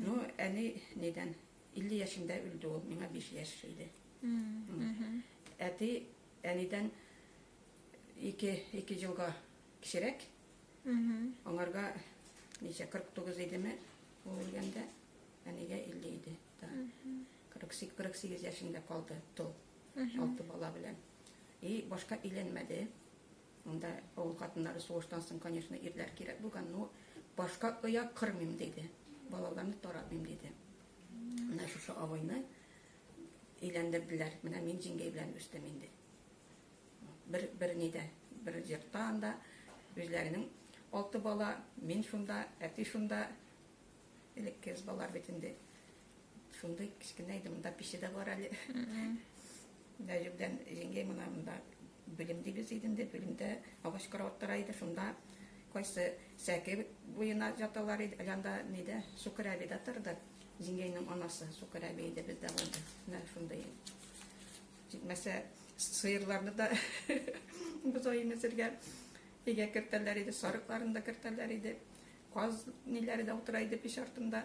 Ну, әни нидән, 50 яшендә үлде ул, миңа биш яшь иде. Әти әнидән ике, ике җылга кечерәк. Аңарга ничә, 49 идеме, ул үлгәндә, әнигә 50 иде. 48, 48 яшендә калды тол, алты бала белән. И башка иленмәде. Монда авыл хатыннары сугыштан соң, конечно, ирләр кирәк булган, но башка оя кырмыйм диде. Балаларны таратмыйм диде. Менә шушы абыйны өйләндерделәр. Менә мин җиңгәй белән үстем инде. Бер бер нидә, бер җирдә анда үзләренең алты бала, мин шунда, әти шунда. Элекке балалар бит инде Шундый кечкенә иде, монда пеше дә бар әле. Нәҗүбдән җиңгәй мына монда белем дибез иденде, белемдә агач карават тора иде, шунда кайсы сәке буена яталар иде, әләнда нидә Сукыр әби дә торды. Җиңгәйнең анасы Сукыр әби иде бездә булды. Менә шундый. Җитмәсә сыерларны да бозай имезергә өйгә кертәләр иде, сарыкларын да кертәләр иде. Каз ниләре дә утыра иде пич артында.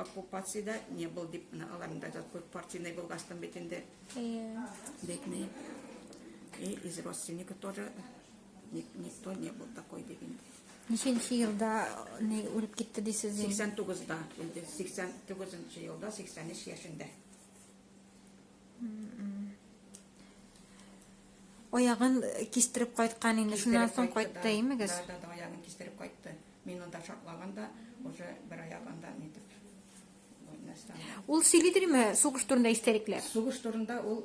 Оккупациядә не был дип менә аларның да күп партийный булгастым бит инде. Бедный. И из родственников тоже никто не был такой дип инде. Ниченче елда не үлеп китте дисез? 89-да, 89 елда, 83 яшендә. Аягын кистереп кайткан инде, шуннан соң кайтты, имегез? Да, да, аягын кистереп кайтты. Мин анда шаклаганда, уже бер аягында нитеп. Ул сөйлидерме сугыш турында истәлекләр? Сугыш турында ул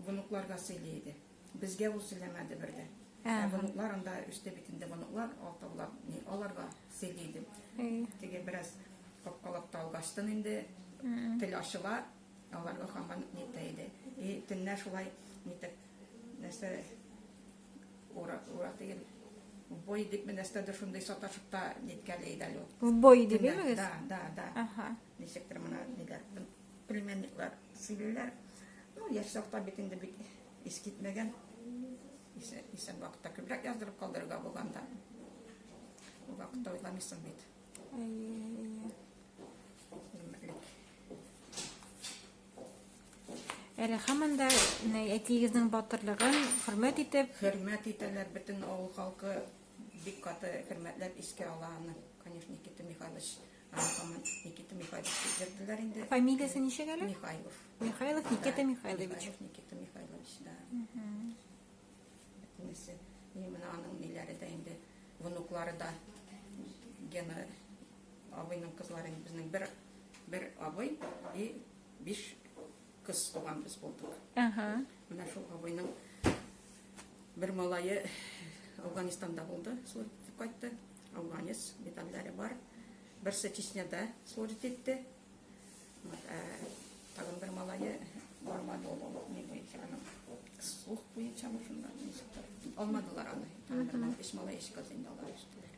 внукларга сөйли иде. Безгә ул сөйләмәде бер дә. Ә внуклар анда өстә бит инде внуклар, алтаулар, мин аларга сөйли иде. Теге бераз капкалап та алгачтын инде, тел ачыла, Алар хаман нитә иде. И төннә шулай нитеп нәрсә урак урак дигән бой дип нәрсәдер шундый саташып та ниткәли иде әле. Бой дип имегез? Да, да, да. Аха. Ничектер менә ниләр племянниклар сөйлиләр. Ну, яшь чакта бит инде бик ис китмәгән. Исә исә вакытта күбрәк яздырып калдырырга булганда. Вакытта уйламыйсың бит. Әле хаман да әтиегезнең батырлыгын хөрмәт итеп, хөрмәт итәләр бөтен авыл халкы бик каты хөрмәтләп искә ала аны. Конечно, Никита Михайлович, хаман Никита Михайлович дип йөрделәр инде. Фамилиясе ничек әле? Михайлов. Михайлов Никита Михайлович. Никита Михайлович, да. Инесе, и менә аның ниләре дә инде, внуклары да Гена абыйның кызлары инде безнең бер бер абый и биш кыз туган без булдык. Ага. Менә шул абыйның бер малае Афганистанда булды, служит кайтты. Афганец медальләре бар. Берсе Чечняда служит итте. Алмадылар аны. Таңдырман биш малай ишек алдында алар эштеләр.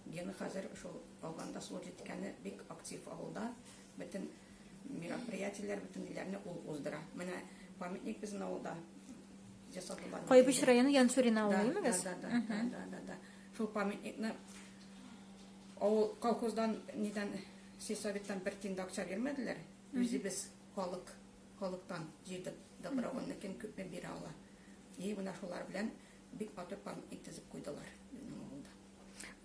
Гены хәзер шул Алганда служит иткәне бик актив авылда. Бөтен мероприятиеләр, бөтен ниләрне ул уздыра. Менә памятник безнең авылда жасатылган. Кайбыч районы Янсурина авылы, имегез? Да, да, да, да, да, да. Шул памятникны Авыл колхоздан нидән сельсоветтан бер тин дә акча бирмәделәр. Үзебез халык халыктан җыйдык добровольно кем күпме бирә ала. И менә шулар белән бик матур памятник төзеп куйдылар безнең авылда.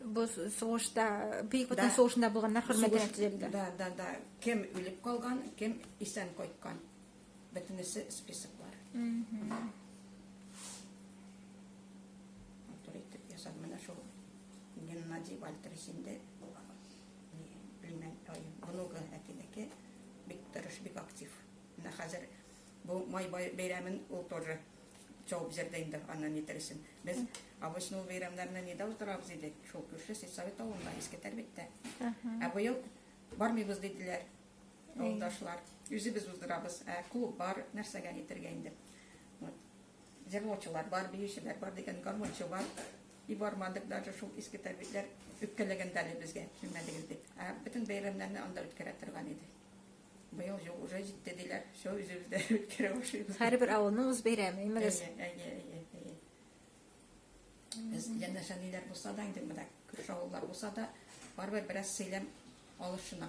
Бу сугышта, Бөек Ватан Да. сугышында булганнар хөрмәтенә Сугыш- төзелде. Да, да, да. Кем үлеп калган, кем исән кайткан. Бөтенесе списоклар. Матур итеп ясап менә шул Геннадий Вальтерс инде племянник, внугы әтинеке бик тырыш, бик актив. Менә хәзер бу май бәйрәмен ул тоже чабып җирдә инде аны нитерсен. Без обычно ул бәйрәмнәрне нидә утырабыз идек? Шул күрше сельсовет авылында, иске Тәрбиттә. Ә быел бармыйбыз диделәр. Юлдашлар. Үзебез уздырабыз. Ә клуб бар, нәрсәгә әйтергә инде. Вот. Җырлаучылар бар, биючеләр бар дигән гармончы бар. И бармадык даже шул иске тәрбитләр үпкәләгәндә әле безгә килмәдегез дип. Ә бөтен бәйрәмнәрне анда үткәрә торган иде. Быел юк, уже җитте диләр. Все үзебездә үткәрә башлыйбыз. Һәрбер авылның үз бәйрәме, имегез. Әйе, әйе, әйе, әйе. Без янәшәниләр булса да инде менә күрше авыллар булса да барыбер бераз сыйлам алышына.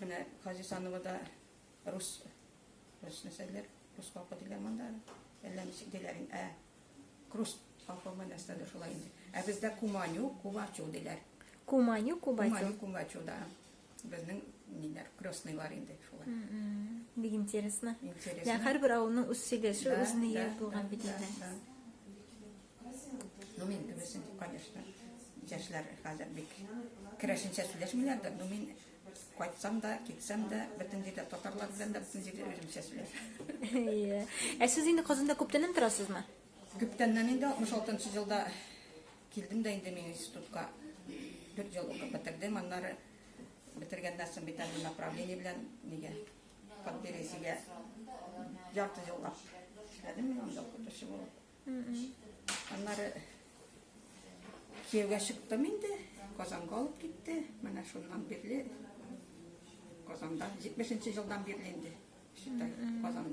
Менә Казисановода рус рус нәрсәләр, рус халкы диләр монда. Әллә ничек диләр инде. Ә крус халкымы нәрсә дә шулай инде. Ә бездә куманю, кубачу диләр. Куманю, кубачу. Куманю, кубачу да. Безнең ниләр, крестныйлар инде шулай. Бик интересно. Интересно. Һәрбер авылның үз сөйләше, үз нигезе булган бит инде. Ну, мин кебесен, конечно, яшьләр хәзер бик керәшенчә сөйләшмиләр дә, ну, мин кайтсам да, китсәм дә, бөтен җирдә татарлар белән дә бөтен җирдә үземчә сөйләшәм. Ә сез инде Казанда күптәннән торасызмы? Күптәннән инде 66 елда килдем дә инде мин институтка. Бер ел укып бетердем, аннары бетергәннән соң бит әле направление белән нигә подберезьегә ярты еллап эшләдем мин анда укытучы булып. Аннары кияүгә чыктым инде, Казанга алып китте. Менә шуннан бирле Казанда 70 нче елдан бирле инде. Считай, Казанда.